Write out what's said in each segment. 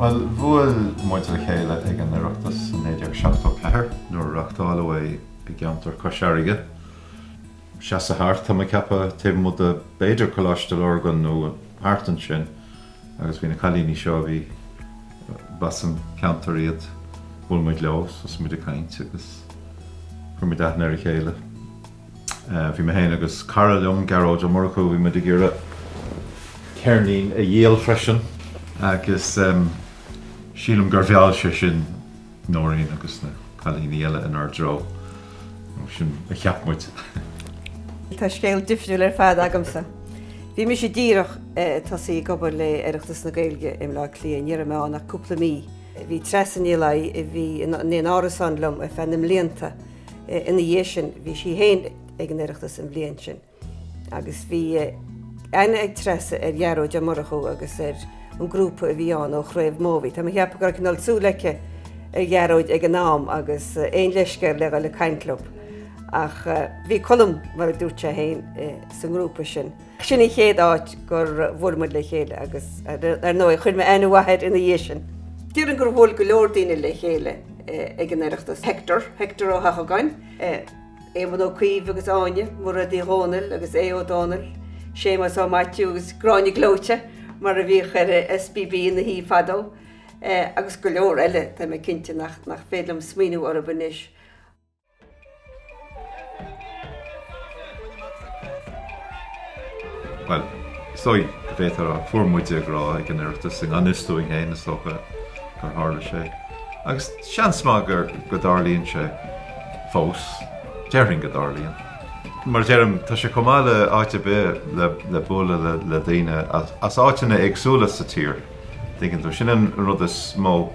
Bhuel, bhuail muid le chéile ag an Oireachtas in 1974 nuair a reachtáileadh é i gceantar Cois Fharraige. Seasamh thart, tá mé ag ceapadh, taobh amuigh de b'fhéidir Coláiste Lurgan nó thart ansin. Agus bhí na cailíní seo, bhí, b'as an gceantar iad, bhuail muid leo, thosaigh muid ag caint agus chuir muid aithne ar a chéile. Bhí mé féin agus cara liom, Gearóid Ó Murchú, bhí muid ag iarraidh ceirnín a dhíol freisin agus sílim gur mheall sé sin, Nóirín agus na cailíní eile inár dtreo, nó sin a cheap muid. Tá scéal difriúil ar fad agamsa. Bhí mise díreach tosaithe ag obair le Oireachtas na Gaeilge i mBleá Cliath, ní raibh mé ann ach cúpla mí. Bhí Treasa Ní Laighin, a bhí in árasán liom ar feadh na mblianta ina dhiaidh sin, bhí sí féin ag an Oireachtas an bhliain sin. agus bhí aithne ag Treasa ar Ghearóid Ó Murchú agus ar an grúpa a bhí ann ó Chraobh Móibhí. Tá mé ag ceapadh go raibh cineál súil aici ar Ghearóid ag an am agus aon leithscéal le dhul ag caint leob. Ach bhí Colm, mar a dúirt sé fhéin, sa ngrúpa sin. Sin an chéad áit gur bhuail muid le chéile agus ar ndóigh chuir mé aithne mhaith air ina dhiaidh sin. Déarfainn gur bhuail go leor daoine le chéile ag an Oireachtas, Hector, Hector Ó hEochagáin, Éamon Ó Cuív agus Áine, Mairéad Uí Dhomhnaill agus Aodh Ó Domhnaill, Séamas Ó Maitiú agus Gráinne Gleoite mar a bhíodh ar SBB ina Shuí fadó, agus go leor eile atá mé cinnte nach féidir liom smaoineamh orthu anois. Bhuel, is dóigh go bhféadfá a rá fuair muide grá ag an Oireachtas i ngan fhios dúinn féin is dócha gur tharla sé, agus seans maith go dtarlaíonn sé. fós. Déarfainn go dtarlaíonn. Mar a deirim, tá sé chomh maith le áit ar bith le le bualadh le le daoine as áiteanna éagsúla sa tír, tuigeann tú. Sin an rud is mó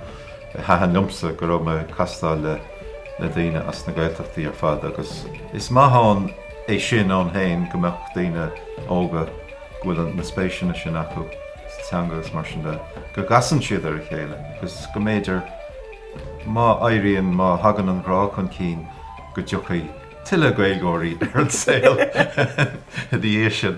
a thaitin liomsa, go raibh mé ag castáil le le daoine as na Gaeltachtaí ar fad agus is maith ann é sin ann féin go mbeadh daoine óga go bhfuil na spéiseanna sin acu sa teanga agus mar sin de, go gcasann siad ar a chéile agus go mb'fhéidir. Má éiríonn, má thagann an grá chun cinn, go dtiocfaidh tuilleadh Gaeilgeoirí ar an saol ina dhiaidh sin.